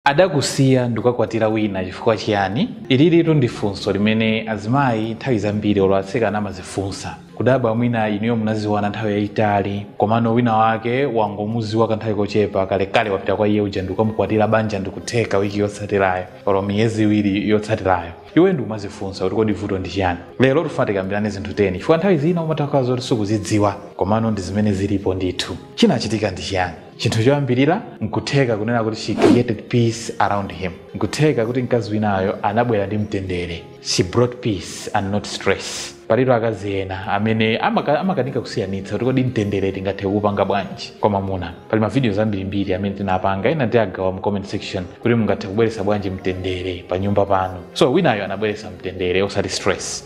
Adakusiya ndikukakwatira wina chifukwa chiyani? Ililitu ndi funso limene azimayi nthawi zambiri olo atsikana amazifunsa. Kudabwa mwina inuyo munaziwana nthawi yayitali komano wina wake wangomuziwa kanthawi kochepa kalekale wapita kwa iye uja ndikukamukwatira banja ndikutheka wiki yotsatirayo olo miyezi iwiri yotsatirayo. Iweyo ndikumazifunsa kuti kodi vuto ndi chiyani? Lero tifuna tikambirane zinthu 10 chifukwa nthawi zina umatha kukhala zoti sukuzidziwa komano ndi zimene zilipo ndithu. Chinachitika ndi chiyani? chinthu choyambirira nkutheka kunena kuti she created peace around him nkutheka kuti mkazi winayo anabwera ndi mtendere she brought peace and not stress palitu akazi ena amene amaka- amakanika kusiyanitsa kuti kodi mtendere tingathe kuupanga bwanji kwa mamuna pali mavidiyo ambirimbiri amene tinapanga ena tiagawa mu comment section kuti mungathe kubweretsa bwanji mtendere pa nyumba pano so winayo anabweretsa mtendere osati stress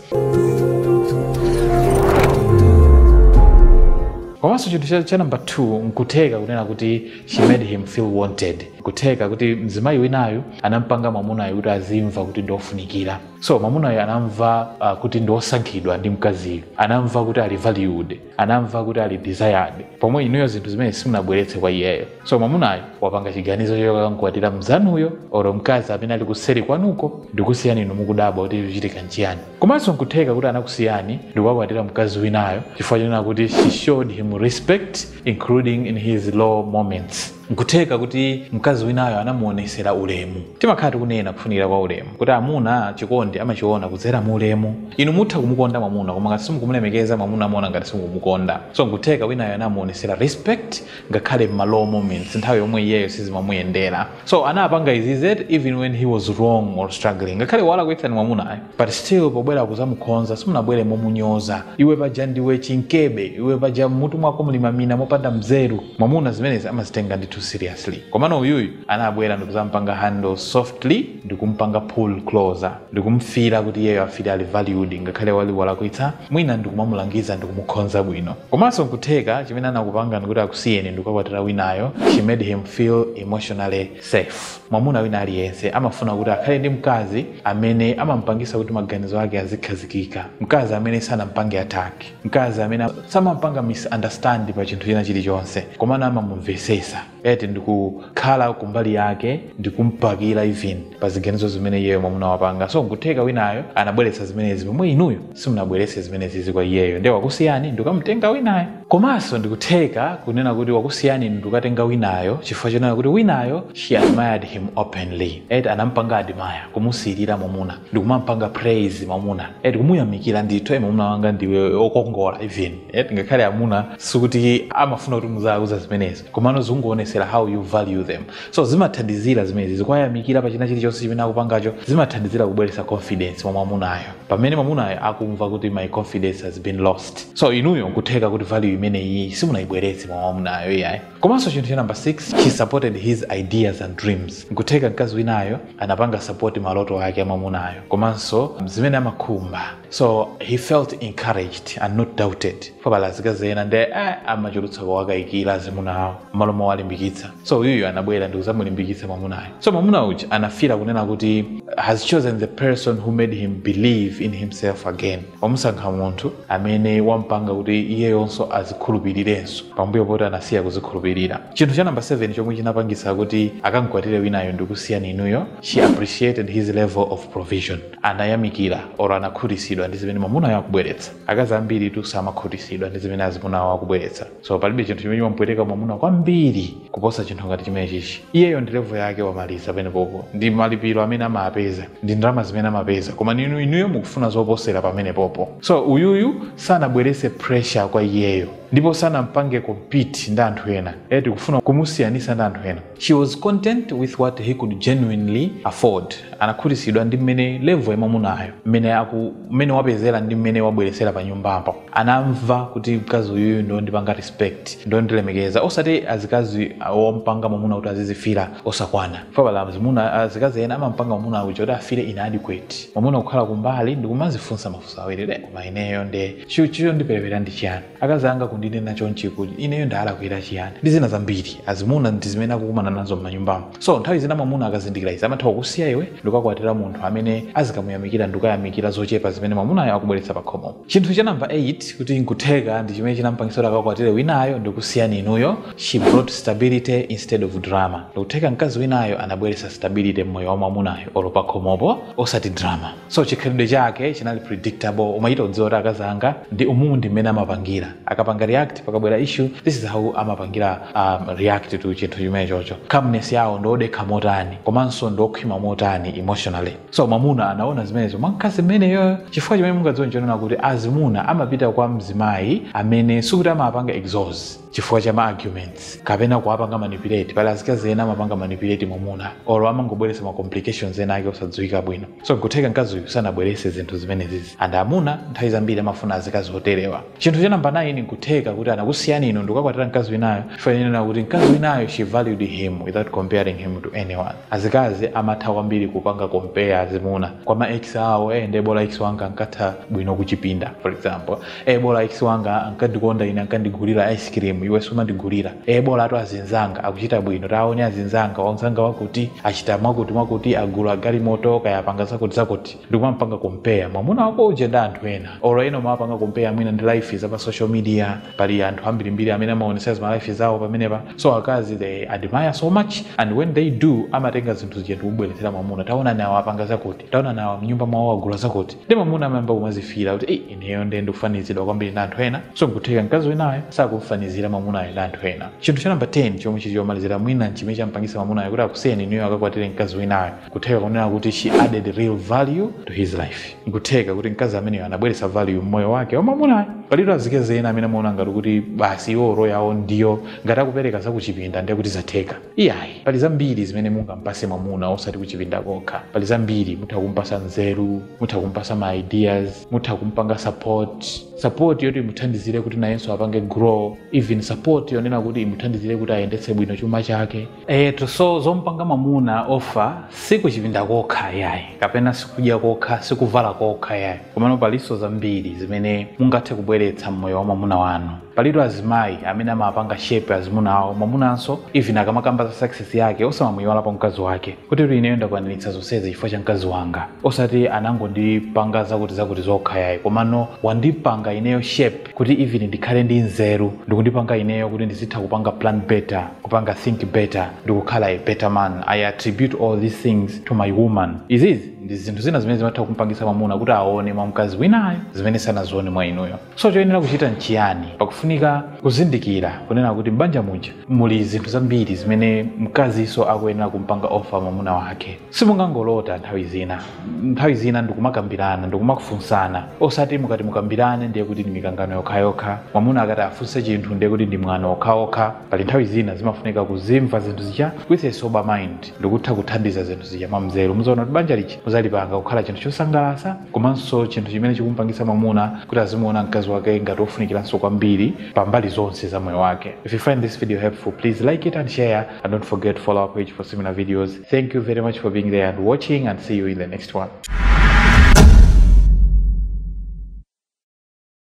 komanso chinthu cha, cha namba 2 nkutheka kunena kuti she made him feel wanted kutheka kuti mzimayi winayo anampanga mwamunayo kuti azimva kuti ndiofunikira so mwamunayo anamva uh, kuti ndiosankhidwa ndi mkaziyo anamva kuti ali valued anamva kuti ali desired pomwe inuyo zinthu zimene simunabweretse kwa iyeyo so mwamunayo wapanga chiganizo chokakankwatira mzanuyo oro mkazi amene ali kuseri kwanuko ndikusiyani inu mukudabwa kuti chikuchitika nchiyani Komanso n'kutheka kuti anakusiyani ndi kukakwatira mkazi winayo chifukwa chonena kuti she showed him respect including in his low moments. N'kutheka kuti mkazi winayo anamuonetsera ulemu. Timakhala tikunena kufunikira kwa ulemu, kuti amuna chikondi amachiona kudzera mu ulemu. Inu mutha kumukonda mwamuna koma ngati simukumulemekeza, mwamuna amaona ngati simukumukonda. So n'kutheka winayo anamuonetsera respect ngakhale m'ma low moments, nthawi yomwe iyeyo sizimamuyendera. so anapanga izizi even when he was wrong or struggling ngakhale walakwitsani mwamunayo but still pobwera kuzamukhonza simunabwere momunyoza iwe paja ndiwe chinkebe iwe paja mmutu mwako muli mamina mopanda mzeru mwamuna zimenezi amazitenga too seriously komano uyuyu anabwera ndikuzampanga handle softly ndikumpanga pull closer ndikumfila kuti iyeyo afile ali valued ngakhale ali walakwitsa mwina ndikumamulangiza ndikumukhonza bwino komanso nkutheka chimene anakupangani kuti akusiyeni ndikukakwatira winayo she made him feel emotionally safe mwamuna wina aliyense amafuna kuti akhale ndi mkazi amene amampangisa kuti maganizo ake azikhazikika mkazi amene sanampange attack mkazi amene samampanga misunderstand pa chinthu china chilichonse komano amamumvesesa eti ndikukhala kumbali yake ndikumbakira even pa ziganizo zimene iyeyo mwamuna wapanga so nkutheka winayo anabweretsa zimenezi pomwe inuyo simunabweretse zimenezizi kwa iyeyo ndiye wakusiyani ndikukamutenga winayo komanso ndikutheka kunena kuti wakusiyani ndikukatenga winayo chifukwa chonena kuti winayo she admired him openly eti anampanga admire kumusirira mwamuna ndikumampanga praise mwamuna eti kumuyamikira ndithu e mwamuna wanga ndiwe okongola even eti ngakhale amuna sikuti amafuna kuti muziwauza zimenezi komano zikungoonesera how you value them so zimathandizira zimene zizi kuwayamikira pa china chilichonse chimene akupangacho zimathandizira kubweretsa confidence mwa mwamunayo pamene mwamunayo akumva kuti my confidence has been lost so inuyo nkutheka kuti value imeneyi simunayibweretse mwa mwamunayo iyayi komanso chinthu cha number 6 she supported his ideas and dreams nkutheka mkazi winayo anapanga support maloto ake a mwamunayo komanso zimene amakhumba so he felt encouraged and not doubted fa pali azikazi ena nde eh, amachulutsa kuwakayikira azimuna awo mmalo mowalimbikitsa so uyuyu anabwera ndi kuzamulimbikitsa mwamunayo so mwamuna uja anafila kunena kuti has chosen the person who made him believe in himself again wamusankha munthu amene wampanga kuti iyeyonso azikhulupirirenso pambuyo poti anasiya kuzikhulupirira chinthu cha namba 7 chomwe chinapangitsa kuti akamkwatire winayo ndikusiyani inuyo she appreciated his level of provision anayamikira or anakhutisidwa ndi zimene mwamunayo akubweretsa akazi ambiritu samakhutisidwa ndi zimene azimuna awo akubweretsa so palibe chinthu chimene chimamupweteka mwamuna kwambiri kuposa chinthu ngati chimene chichi iyeyo ndi level yake wamaliza pamenepopo ndi malipiro amene amapeza ndi ndalama zimene amapeza koma ninu inuyo mukufuna zoposera pamenepopo so uyuyu sanabwerese pressure kwa iyeyo ndipo sanampange compete ndi anthu ena eti kufuna kumusiyanisa ndi anthu ena She was content with what he could genuinely afford. Anakhutisidwa ndi mmene level ya mwamunayo, mmene aku mmene wapezera ndi mmene wabweresera pa nyumbapo. Anamva kuti mkazi uyuyu ndi ondipanga respect, ndi ondilemekeza. Osati azikazi ompanga mwamuna kuti azizifila osakwana. Chifukwa pali azimuna azikazi ena amampanga mwamuna uja kuti afile inadequate. Mwamuna kukhala kumbali ndi kumazifunsa mafunso awiri, koma ineyo nde chi chi chondiperewera ndi chiani? akazi anga kundinena chonchi kuti ineyo ndaalakwira chiyani ndi zina zambiri azimuna ndi zimene akukumana nazo m'manyumbamo so nthawi zina mwamuna akazindikira izi amatha kukusiya iwe ndikukakwatira munthu amene azikamuyamikira ndikukayamikira zochepa zimene mwamunayo akubweretsa pakhomo chinthu cha namba 8 kuti nkutheka ndi chimene chinampangisa kuti akakwatire winayo ndikusiyani inuyo she brought stability instead of drama ndikutheka mkazi winayo anabweretsa stability mmoyo wa mwamunayo olo pakhomopo osati drama so chikhalidwe chake chinali predictable umachita kudziwa kuti akazi anga ndi umu ndi mmene amapangira akapanga react pakabwera issue this is how amapangira um, react to chinthu chimene chocho calmness yawo ndiodekha motani komanso ndiokhwima motani emotionally so mwamuna anaona zimenezo mwa mkazi mmeneyo chifukwa chimene mungadziwe nchonena kuti azimuna amapita kwa mzimayi amene sikuti amapanga exhaust chifukwa cha ma arguments kapena kuwapanga manipulate pali azikazi ena amapanga manipulate mwamuna olo amangobweresa ma complications ena ake osadziwika bwino so nkutheka mkazi uyu sanabwerese zinthu zimenezizi and amuna nthawi zambiri amafuna azikazi oterewa chinthu cha namba 9 nkutheka kuti anakusiyani inu ndikukakwatira mkazi winayo chifa nena kuti mkazi winayo she valued him without comparing him to anyone azikazi amatha kwambiri kupanga compare azimuna kwa ma ex awo eh nde bola ex wanga ankatha bwino kuchipinda for example e bola ex wanga ankandikonda ine ankandigulira ice cream iwe sumandigulira e bola atu azinzanga akuchita bwino taone azinzanga wamzanga wakuti achita mwakuti mwakuti agula galimoto kaya apanga zakuti zakuti ndikumampanga compare mwamuna wako uje ndi anthu ena olo ena umawapanga compare mwina ndi life za pa social media pali anthu ambirimbiri amene amaonesa zima life zawo pamenepa so akazi they admire so much and when they do amatenga zinthu zija ndikubweretsera mwamuna taonani awo apanga zakuti taonani awo mnyumba mwawo agula zakuti ndi mamuna amayamba kumazifiira kuti ei ineyo ndiye ndikufanizidwa kwambiri ndi anthu ena so nkutheka mkazi winayo sakumfanizira mamunayo ndi anthu ena chinthu cha namba 10 chomwe chili chomalizira mwina nchimene champangisa mamunayo kuti akusiyeni inuyo akakwatire mkazi winayo kutheka kunena kuti she added real value to his life nkutheka kuti mkazi ameneyo anabweretsa value mmoyo wake wa mamunayo palitu azikazi ena amene amaona ngati kuti basi iwo role yawo ndiyo ngati akupereka zakuchipinda ndiye kuti zatheka Iyayi, pali zambiri zimene mungampase mwamuna osati kuchipinda kokha. Pali zambiri, mutha kumpasa nzeru, mutha kumpasa ma ideas, mutha kumpanga support, support yoti imuthandizire kuti nayenso apange grow, even support yonena kuti imuthandizire kuti ayendetse bwino chuma chake. Eyetu, so zompanga mwamuna offer si kuchipinda kokha iyayi, kapena sikudya kokha, sikuvala kokha iyayi. Komano palinso zambiri zimene mungathe kubweretsa mmoyo wa mwamuna wanu. Palitu azimayi amene amapanga shape azimuna awo mwamunanso even akamakamba za success yake osamamuiwalapo mkazi wake kuti ineyo ndakwaniritsa zonsezi chifukwa cha mkazi wanga osati anangondipanga zakuti zakuti zokha yayi komano wandipanga ineyo shape kuti even ndikhale ndi nzeru ndikundipanga ineyo kuti ndizitha kupanga plan better kupanga think better ndikukhala a better man I attribute all these things to my woman izizi ndi zinthu zina zimene zimatha kumpangitsa mwamuna kuti aone mwa mkazi winayo zimene sanazione mwa inuyo so choyenera kuchita nchiyani pakufunika kuzindikira kunena kuti m'banja muja muli zinthu zambiri zimene mkazinso akuyenera kumpanga offer mwamuna wake simungangolota nthawi zina nthawi zina ndikumakambirana ndikumakufunsana osati mukati mukambirane ndiye kuti ndi mikangano yokhayokha mwamuna akati afunse chinthu ndiye kuti ndi mwano okhaokha pali nthawi zina zimafunika kuzimva zinthu zija with a sober mind ndikutha kuthandiza zinthu zija mwamzeru muzaona kuti banja lija muzalipanga kukhala chinthu chosangalasa komanso chinthu chimene chikumpangisa mwamuna kuti azimuona mkazi wake ngati ofunikiranso kwambiri pa mbali zonse za moyo wake if you find this video helpful please like it and share and don't forget to follow our page for similar videos thank you very much for being there and watching and see you in the next one